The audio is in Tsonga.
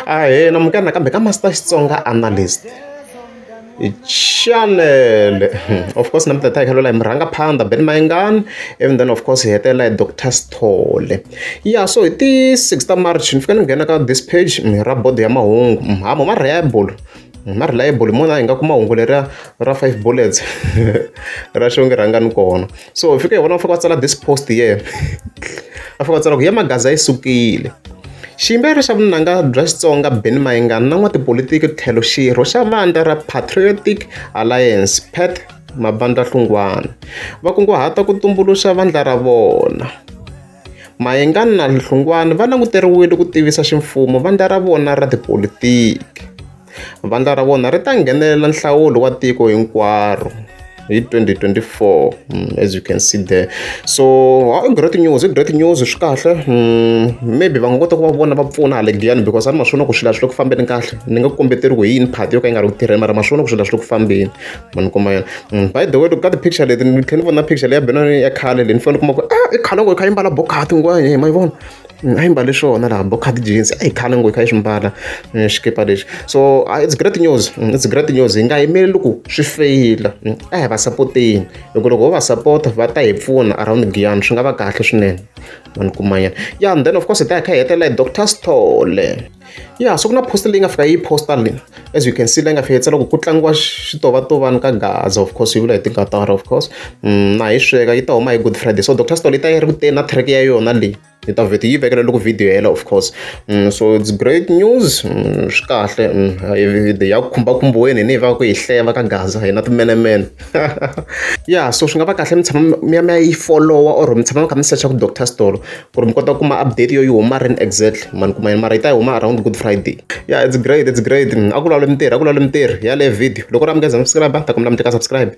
a he na mukana nakambe ka master xitsonga analyst chanele of course na mutata ikhalwela hi murhanga phanda ben mayingani even then of course hi hetelela hi dr sithole ya so hi ti 6 ta march ni fika ni nghena ka this page ra bodo ya mahungu mhamo ma reliable ma reliable mona hi nga kuma hungu leriya ra five bullets ra xonge rhangani kona so hi fika hi vona va fika va tsala this post yena va fika va tsala ku ya magaza yi sukile xiyimbeleri xa vunanga bya xitsonga ben mayingani na n'watipolitiki tlhelo xirho xa vandla ra patriotic alliance pat mabandla hlungwana va kunguhata ku tumbuluxa vandla ra vona mayingani na hlungwana va languteriwile ku tivisa ximfumo vandla ra vona ra tipolitiki Vandla ra vona ri ta nghenelela nhlawulo wa tiko hinkwaro hi 2024 mm, as you can see there so i great news i great news swi kahle mm, maybe va nga kota ku va vona va pfuna hale giyani because a ni ma swona ku swilo swi le ku fambeni kahle ni nga kombeteriwi hi yini party yo ka yi nga ri ku tirheni mara ma swona ku swilo swi le ku fambeni ma ni kuma yona mm, by the way loko ka ti-picture leti ni tlhela ni vona picture leyi ya benani ya khale leyi ni fanele ni kuma ku a ah, i khale ngo yi kha yi mbala bokati ngwani hi ma yi vona a yi mbale swona laha bo khadi jeans a yi khale ngo yi kha yi swi mbala eh, xikipa lexi so ah, it's great news mm, it's great news hi nga yimeli loko swi feyila mm, a hi va sapoteni loko loko ho va sapota va ta hi pfuna around giyani swi nga va kahle swinene mani kumanyana ya and then of course hi ta hi kha hi hetelela hi doctor stole ya so ku na poster leyi nga fika yi poster leyi as you can see leyi nga fika yitsala ku ku tlangiwa switovantovani ka gaza of course yi vula hi tingatara of course mm, na hi sweka yi ta huma hi good friday so dr stol yi ta yi ri ku teni na track ya yona leyi hi ta vheti yi vekela loko video hela of course mm, so it's great news mm, swi kahle mm, ya ku khumbakhumbiweni ni hi va ku hi hleva ka gaza hina timenemene ya so swi nga va kahle mi tshama mi ya mi ya yi followa or mi tshama mi kha mi secha ku dr stolo Ku ri mi kota ku kuma update yo yi huma rini exactly. Ma ni kuma yini? Mara yi ta huma around good friday. Ya it's great, it's great. A ku laule mintirho, a ku laule mintirho. Hi yaleyo video. Loko u ri a mi nge se za mi subscribe-a, ni ta kombela mi tleka subscribe.